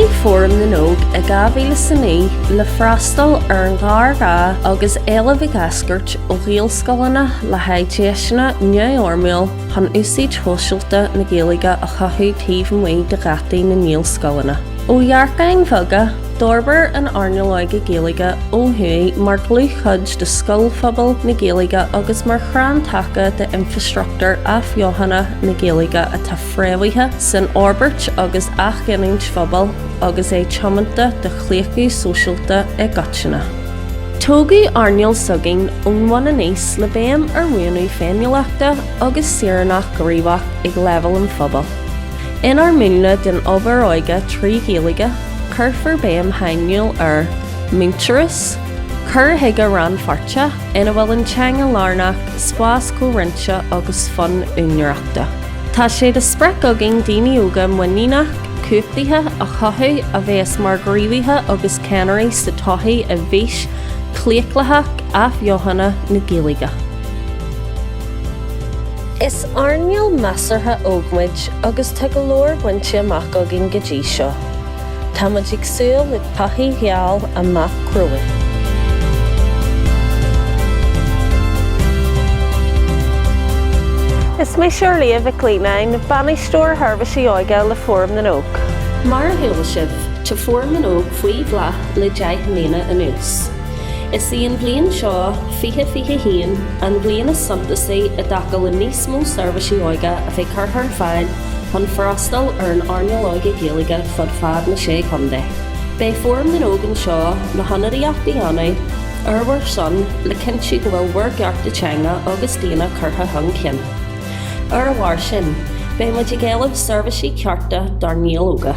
Bunaíodh Fóram na nÓg i 2009 le freastal ar an ghéarghá agus éileamh ag eascairt ó ghaelscoileanna le haghaidh deiseanna neamhfhoirmiúil, chun úsáid shóisialta na Gaeilge a chothú taobh amuigh de gheataí na nGaelscoileanna. Ó dhearcáin bheaga, d'fhorbair an earnáil óige Gaeilge ó thuaidh mar dhlúthchuid de scoilphobal na Gaeilge agus mar chrann taca d'infreastruchtúr athbheochana na Gaeilge atá fréamhaithe san fhorbairt agus athghiniúint phobail agus é tiomanta do chlaochlú sóisialta i gcoitinne. Tógadh earnáil s'againn ón mbun aníos le béim ar mhúnlú féiniúlachta agus saoránacht ghníomhach ag leibhéal an phobail. Inár múnla den obair óige trí Ghaeilge, cuirfear béim shainiúil ar mhuintearas, cur chuige rannpháirteach ina bhfuil an teanga lárnach, spás comhroinnte agus fonn úinéireachta. Tá sé de sprioc againn daoine óga muiníneach, cumhachtaithe a chothú a bheas mar ghníomhaithe agus ceannairí sa todhchaí i bhfís chlaochlaitheach athbheochana na Gaeilge. Is earnáil measartha óg muid agus tá go leor bainte amach againn go dtí seo. Tá muid ag súil le todhchaí gheal amach romhainn. Is mise Orliath Mhic Leannáin, Bainisteoir Sheirbhísí Óige le Fóram na nÓg. Mar a chuala sibh, tá Fóram na nÓg faoi bhláth le deich mbliana anuas. Is í an bhliain seo, 2021, an bhliain is suntasaí i dtaca le níos mó seirbhísí óige a bheith curtha ar fáil, chun freastal ar an earnáil óige Gaeilge fud fad na Sé Chontae. Beidh Fóram na nÓg anseo le hionadaíocht a dhéanamh ar bhur son le cinntiú go bhfuil bhur gcearta teanga agus daonna curtha chun cinn. Ar a bharr sin, beidh muid ag éileamh seirbhísí cearta dár nGaeil óga.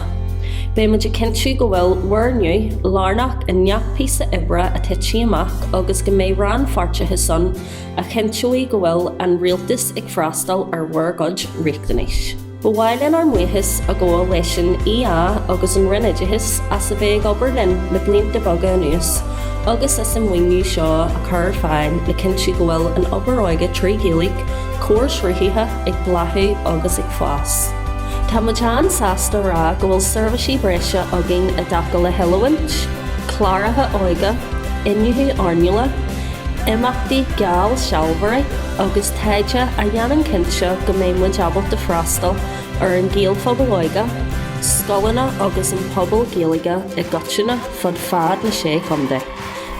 Beidh muid ag cinntiú go bhfuil bhur nguth lárnach i ngach píosa oibre a thitfidh amach agus go mbeidh rannpháirteachas ann a chinnteoidh go bhfuil an Rialtas ag freastal ar bhur gcuid riachtanais. Ba mhaith linn ár mbuíochas a ghabháil leis an EA agus an Roinn Oideachais as a bheith ag obair linn le blianta beaga anuas agus as an maoiniú seo a chur ar fáil le cinntiú go bhfuil an obair óige trí Ghaeilge comharshruthaithe ag bláthú agus ag fás. Tá muid an-sásta a rá go bhfuil seirbhísí breise againn i dtaca le hoiliúint, cláracha óige, iniúchadh earnála, imeachtaí geallsealbhóirí agus taighde a dhéanann cinnte go mbeidh muid ábalta freastal ar an Ghaelphobal óige, scoileanna agus an pobal Gaeilge i gcoitinne fud fad na Sé Chontae.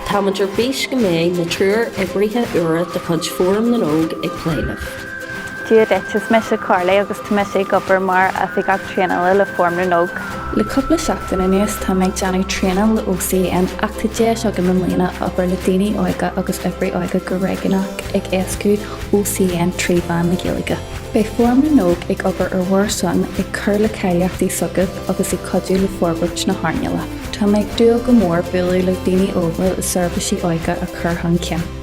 Táimid ar bís go mbeidh na triúr oibrithe úra de chuid Fóram na nÓg ag plé libh. Dia duit, is mise Carly agus tá mise ag obair mar Oifigeach Traenála le Fóram na nÓg. Le cúpla seachtain anuas tá mé ag déanamh traenáil le OCN ach tá deis agam i mbliana obair le daoine óga agus oibrí óige go réigiúnach ag éascú OCN trí mheán na Gaeilge. Beidh Fóram na nÓg ag obair ar bhur son, ag cur le cáilíochtaí s'agat agus ag cuidiú le forbairt na hearnála. Tá mé ag dúil go mór bualadh le daoine óga le seirbhísí óige a chur chun cinn.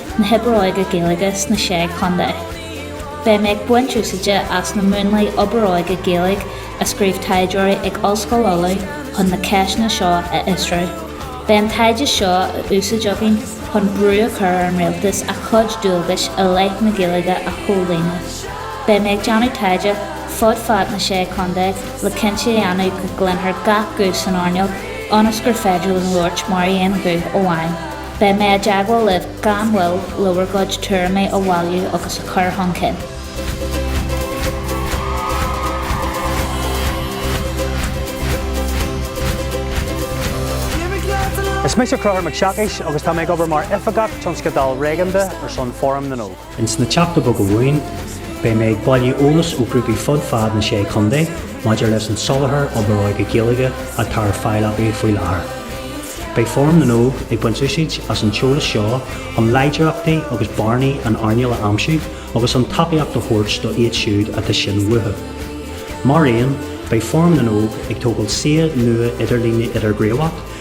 na hoibre óige Gaeilge sna sé chontae. Beidh mé ag baint úsáide as na múnlaí oibre óige Gaeilge a scríobh taighdeoirí ag Ollscoil Uladh chun na ceisteanna seo a fhiosrú. Beidh an taighde seo á úsáid againn chun brú a chur ar an rialtas a chuid dualgais i leith na Gaeilge a chomhlíonadh. Beidh mé ag déanamh taighde fud fad na sé chontae le cinnte a dhéanamh go gcluinthear gach guth san earnáil ionas gur féidir linn labhairt mar aon ghuth amháin. Beidh mé i dteagmháil libh gan mhoill le bhur gcuid tuairimí a bhailiú agus a chur chun cinn. Is mise Conchúr Mac Siacais agus tá mé ag obair mar Oifigeach Tionscadail Réigiúnda ar son Fóram na nÓg. Ins na teachta beaga romhainn, beidh mé ag bailiú eolas ó ghrúpaí fud fad na Sé Chontae maidir leis an soláthar obair óige Gaeilge atá ar fáil acu faoi láthair. Beidh Fóram na nÓg ag baint úsáid as an t-eolas seo chun láidreachtaí agus bearnaí an earnáil a aimsiú agus chun tacaíocht a thabhairt do iad siúd atá sin uathu. Mar aon, beidh Fóram na nÓg ag tógáil suíomh nua idirlíne idirghníomhach